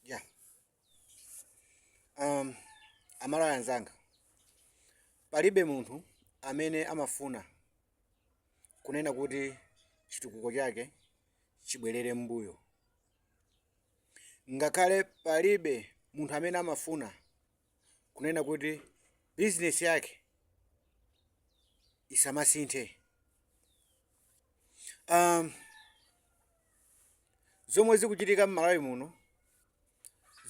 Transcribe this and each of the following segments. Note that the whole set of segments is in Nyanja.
ya um, amalawi anzanga palibe munthu amene amafuna kunena kuti chitukuko chake chibwerere m'mbuyo ngakhale palibe munthu amene amafuna kunena kuti bizinesi yake isamasinthe um, zomwe zikuchitika mmalawi muno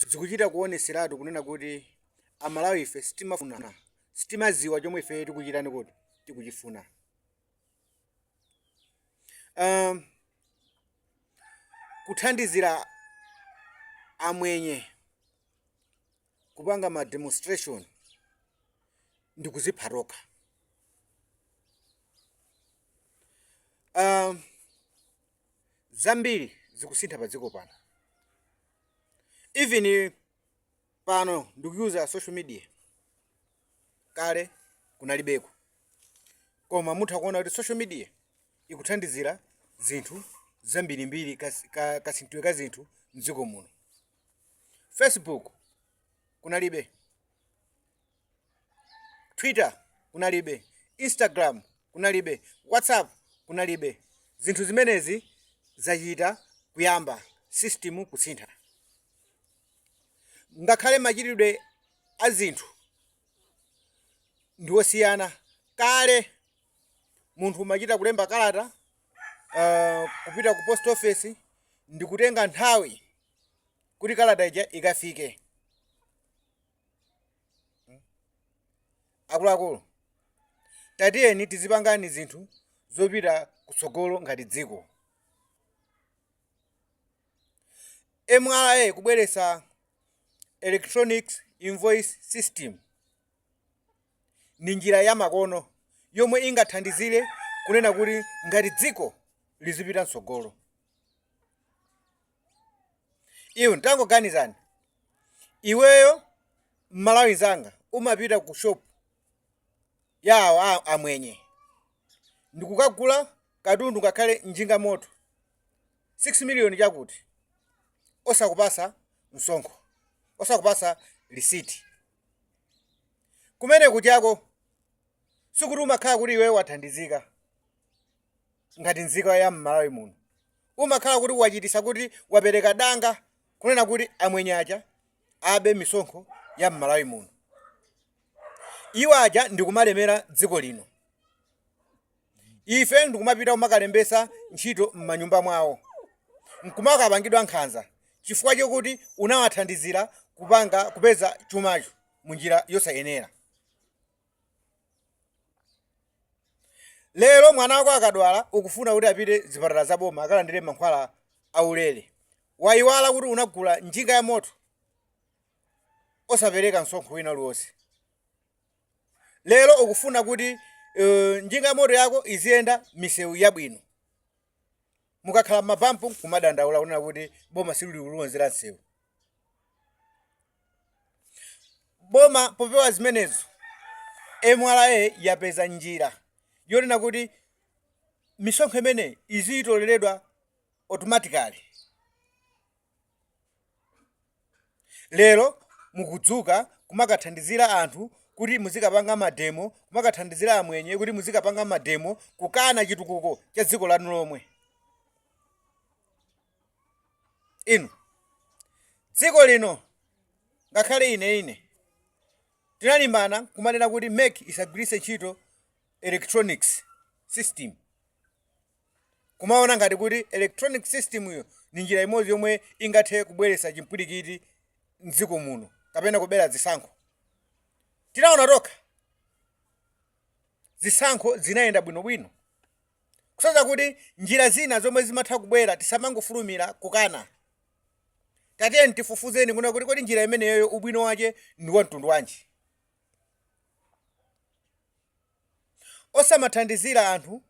zikuchita kuoneseratu kunena kuti amalawi ife sitima- sitimaziwa chomwe ife tikuchitani kuti tikuchifuna um, kuthandizira amwenye kupanga ma demonstration ndikuzipha tokha um, zambiri zikusintha pa dziko pano even pano ndikuuza social media kale kunalibeko koma mutha kuona kuti social media ikuthandizira zinthu zambirimbiri kas- ka- kasinthidwe ka zinthu mdziko muno facebook kunalibe twitter kunalibe instagram kunalibe whatsapp kunalibe zinthu zimenezi zachita kuyamba system kusintha ngakhale machitidwe a zinthu ndi osiyana kale munthu umachita kulemba kalata uh, kupita ku post office ndi kutenga nthawi kuti kalata ija ikafike akuluakulu tatiyeni tizipangani zinthu zopita kutsogolo ngati dziko mra kubweretsa electronic invoice system ndi njira ya makono yomwe ingathandizire kunena kuti ngati dziko lizipita mtsogolo Iwe tangoganizani, iweyo Mmalawi nzanga umapita ku shop ya awa a amwenye ndikukagula katundu ngakhale njinga moto 6 million chakuti, osakupasa msonkho, osakupasa lisiti. Kumene kujako sikuti umakhala kuti iweyo wathandizika. ngati nzika ya mmalawi muno umakhala kuti wachitisa kuti wapereka danga kunena kuti amwenye aja abe misonkho ya mmalawi muno iwo aja ndikumalemera dziko lino ife ndikumapita kumakalembesa ntchito m'manyumba mwawo nkumakapangidwa nkhanza chifukwa chokuti unawathandizira kupanga kupeza chumacho munjira yosayenera lero mwana wako akadwala ukufuna kuti apite zipatala za boma akalandire mankhwala aulere wayiwala kuti unagula njinga ya moto osapereka msonkho wina uliwonse lero ukufuna kuti uh, njinga ya moto yako iziyenda misewu yabwino mukakhala mabampu kumadandaula kunena kuti boma silili kulonzera msewu boma popewa zimenezo mra yapeza njira yonena kuti misonkho imeneyi izitoleredwa automatically lero mukudzuka kumakathandizira anthu kuti muzikapanga mademo kumakathandizira amwenye kuti muzikapanga mademo kukana chitukuko cha dziko lanu lomwe inu dziko lino ngakhale ineyo ine tinalimbana kumanena kuti mek isagwiritse ntchito electronics system kumaona ngati kuti electronic system yo ndi njira imodzi yomwe ingathe kubweretsa chimpwirikiti mdziko muno kapena kubera zisankho tinaona tokha zisankho zinayenda bwinobwino kusonyeza kuti njira zina zomwe zimatha kubwera tisamangofulumira kukana tatiyeni tifufuzeni kunena kuti kodi njira imeneyoyo ubwino wache ndi wa mtundu wanji osamathandizira anthu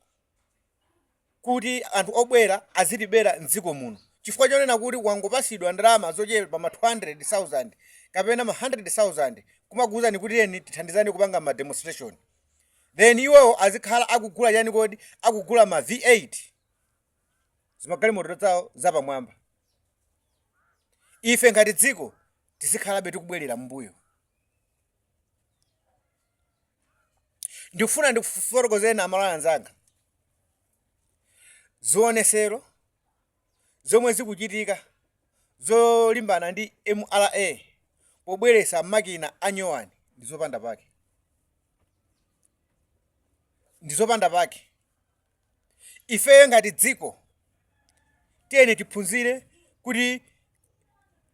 kuti anthu obwera azitibera m'dziko muno chifukwa chonena kuti wangopasidwa ndalama zochepa ma 200,000 kapena ma 100,000 kumakuuzani kuti tiyeni tithandizane kupanga ma demonstration then iwowo azikhala akugula chani kodi akugula ma v8 zimagalimoto zawo zapamwamba ife ngati dziko tizikhalabe tikubwerera m'mbuyo ndikufuna ndikufotokozeni amalawi anzanga zionesero zomwe zikuchitika zolimbana ndi mra pobweresa makina a nyowani ndizopanda pake ndizopanda pake Ifeyo ngati dziko tiyeni tiphunzire kuti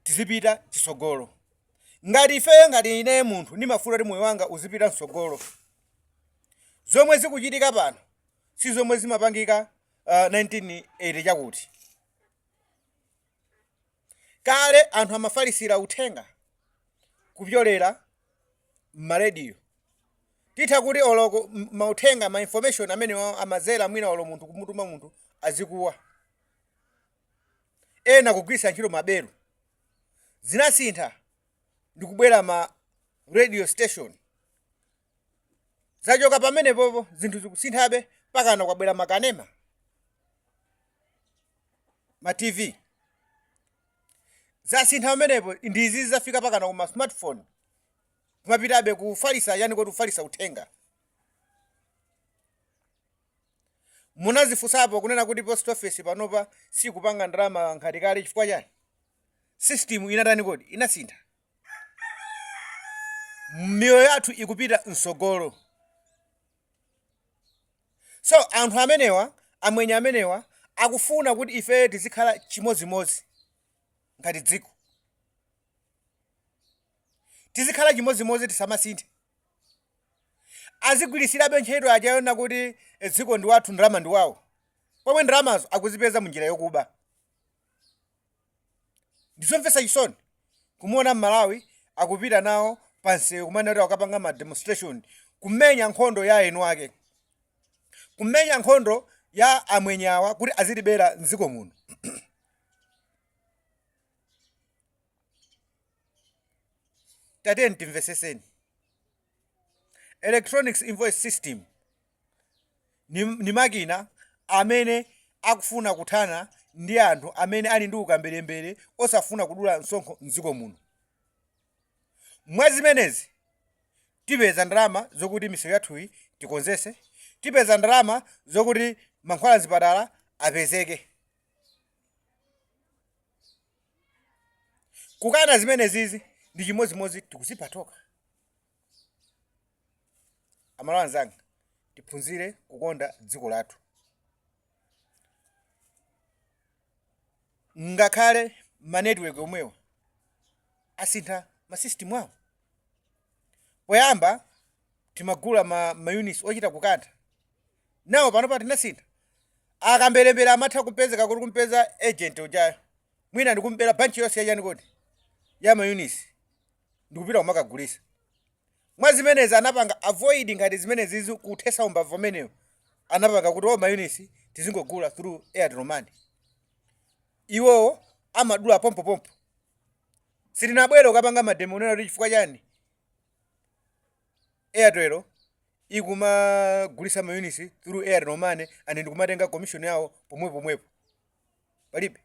tizipita chitsogolo. Ngati ifeyo ngati ineyo munthu ndimafuna kuti moyo wanga uzipita mtsogolo, zomwe zikuchitika pano si zomwe zimapangika uh, 1980 chakuti Kale anthu amafalitsira uthenga kupyolera mma radio. Titha kuti olo ku, mauthenga, ma information amene amadzera mwina olo munthu kumutuma munthu azikuwa. Ena kugwiritsa ntchito maberu. Zinasintha ndikubwera ma radio station. zachoka pamenepopo zinthu zikusinthabe pakana kwabwera makanema ma tv zasintha pamenepo ndi izi zafika pakana kuma smartphone kumapitabe kufalisa chani kodi kufalisa uthenga munazifunsapo kunena kuti post office panopa sikupanga ndalama ngati kale chifukwa chani system inatani kodi inasintha miyoyo yathu ikupita mtsogolo so anthu amenewa amwenye amenewa akufuna kuti ife tizikhala chimodzimodzi ngati dziko tizikhala chimodzimodzi tisamasinthe azigwiritsirabe ntchito yachaona kuti dziko ndi wathu ndalama ndi wawo pomwe ndalamazo akuzipeza munjira yokuba ndizomvetsa chisoni kumuona mmalawi akupita nawo pansewu kumena kuti akukapanga ma demonstration kumenya nkhondo ya eni ake kumenya nkhondo ya amwenyawa kuti azilibera mdziko muno tatiyeni timveseseni electronics invoice system ni, ni makina amene akufuna kuthana ndi anthu amene ali ndi ukamberembere osafuna kudula msonkho mdziko muno mwa zimenezi tipeza ndalama zokuti misewu yathuyi tikonzese tipeza ndalama zokuti mankhwala mzipatala apezeke kukana zimenezizi ndi chimodzimodzi tikuzipha tokha amalawi anzanga tiphunzire kukonda dziko lathu ngakhale manetiweki omwewa asintha masystem awo poyamba timagula ma, ma units ochita kukantha nawo panopa tinasintha akamberembere amatha kupezeka kuti kumpeza agent ujayo mwina ndikumubera banchi yonse yachani kodi ya ma units ndikupita kumakagulisa mwa zimenezi anapanga avoid ngati zimenezizi kuthesa umbava umenewo anapanga kuti o mayunisi tizingogula through airtel money iwowo amadula pompopompo sitinabwere ukapanga mademo unena kuti chifukwa chani airtel ikumagulisa mayunisi through airtel money and ndikumatenga commission yawo pomwepo pomwepo palibe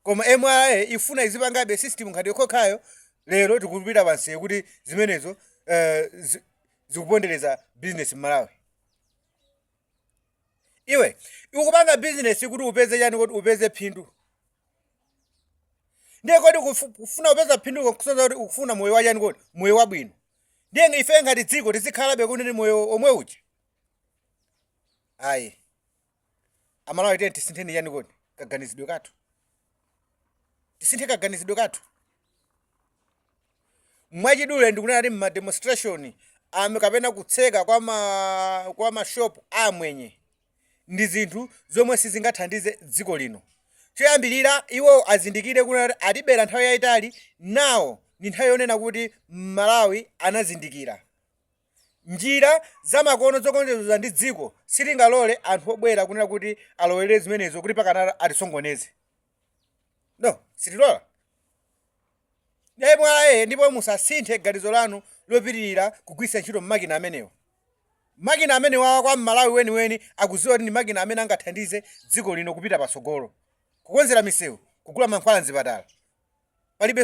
Koma mra ifuna izipangabe system ngati yonkhonkhayo lero tikupita panseu kuti zimenezo uh, zikupondereza business mmalawi iwe ukupanga business kuti upeze chani kuti upeze phindu ndiye kodi kufuna upeza phindu kusoza kuti ukufuna moyo wa chani kodi moyo wabwino ndiye ife ngati dziko tizikhalabe kuti ndi moyo omwe uja ayi amalawi tiyeni tisintheni chani kodi kaganizidwe kathu tisinthe kaganizidwe kathu mwachidule ndikunena kuti ma demonstration kapena kutseka kwa mashop amwenye ndi zinthu zomwe sizingathandize dziko lino choyambirira iwo azindikire kunena kuti atibera nthawi yayitali nawo ndi nthawi yonena kuti mmalawi anazindikira Njira zamakono zokonzedwa ndi dziko sitingalole anthu obwera kunena kuti alowerere zimenezo kuti pakana atisokoneze. No, sitilola. MRA ndipo musasinthe ganizo lanu lopitirira kugwiritsa ntchito makina amenewa. Makina amenewawa kwa m'Malawi weniweni akudziwa kuti ndi makina amene angathandize dziko lino kupita patsogolo. Kukonzera misewu, kugula mankhwala m'zipatala. Palibe